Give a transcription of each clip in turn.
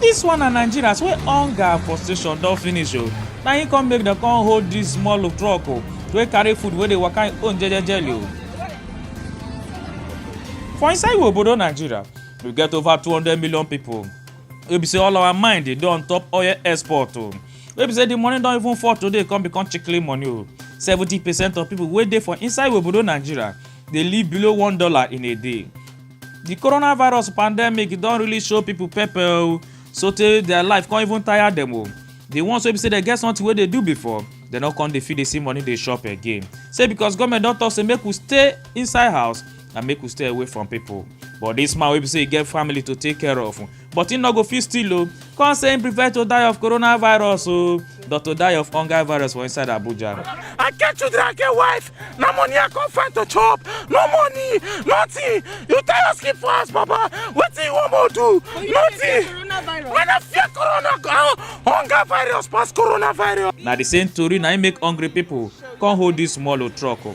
Dis one na Nigerians wey hunger and frustration don finish o, na im come make dem come hold dis small look truck o wey carry food wey dey waka im own jejejely o. For inside we obodo Nigeria, we get over two hundred million pipu wey be sey all our mind dey on top oil export o, wey be sey de money don even fall today come become chikili money o. Seventy percent of pipu wey dey for inside we obodo Nigeria dey live below one dollar in a day. The coronavirus pandemic don really show people pepper o sotey their life come even tire them o. The ones wey be say dem get something wey dey do before dem no come dey fit dey see money dey shop again. Say because government don talk say make we stay inside house and make we stay away from people. But this man wey be say e get family to take care of but im no go fit steal o come say im prefer to die of coronavirus o than to die of hunger virus for inside abuja. I get children, I get wife. No money I come find to chop. No money, nothing. You tell us keep for us, Baba. What do you want more do? Nothing. When I fear corona, uh, hunger virus pass coronavirus. na the same tori na im make hungry people come hold this small o truck o.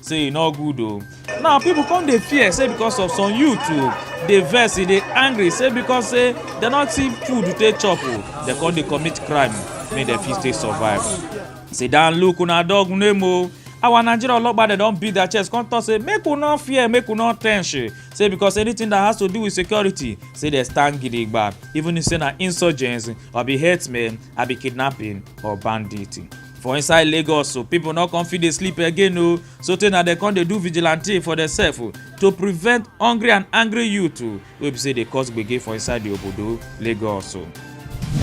say e no good o now people come dey fear say because of some youth o dey vex e dey angry say because say dem no see food to take chop o dem come dey commit crime make dem fit take survive sit down look una dog name o our nigeria ologba dem don beat their chest come talk say make we no fear make we no tense eh. say because anything that has to do with security say dem stand gidigba even if say na insurgents or be herdsmen or be kidnapping or bandit. for inside lagos so pipo no come fit dey sleep again o sotey na dem come dey do vigilante for demsef o to prevent hungry and angry youth o wey be say dey cause gbege for inside di obodo lagos o.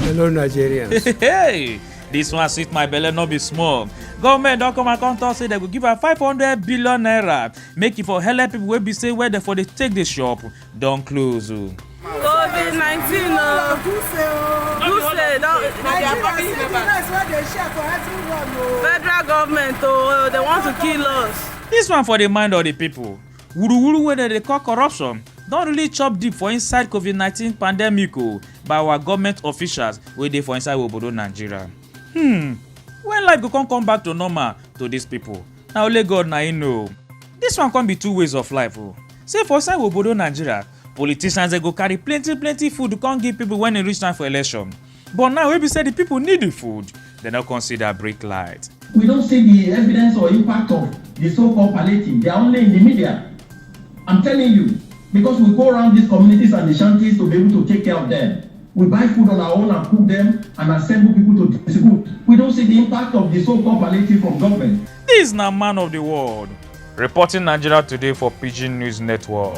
Hello, Nigerians. hey dis one sweet my belle no be small government don come and come talk say dem go give am five hundred billion naira make e for helep pipo wey be say where dem for dey take dey shop don close o. covid nineteen o duse don federal government o dey want to kill us. Dis one for the mind of the people. Wuruwuru wey dem dey call corruption don really chop deep for inside COVID-19 pandemic o by our government officials wey dey for inside obodo Nigeria. Hmm, when life go come come back to normal to these people? Na only God na im know. Dis one come be two ways of life o. Say for inside obodo Nigeria, politicians dey go carry plenty plenty food come give people when e reach time for election. But now wey be say the people need the food, dem no come see their brick light. We don't see the evidence or impact of the so called palliative, they are only in the media. I'm telling you, because we go round these communities and the shanties to be able to take care of them. We buy food on our own and cook them and assemble people to distribute. We don't see the impact of the so called palliative from government. Dis na man of di world. Reporting Nigeria Today for Pidgin News Network.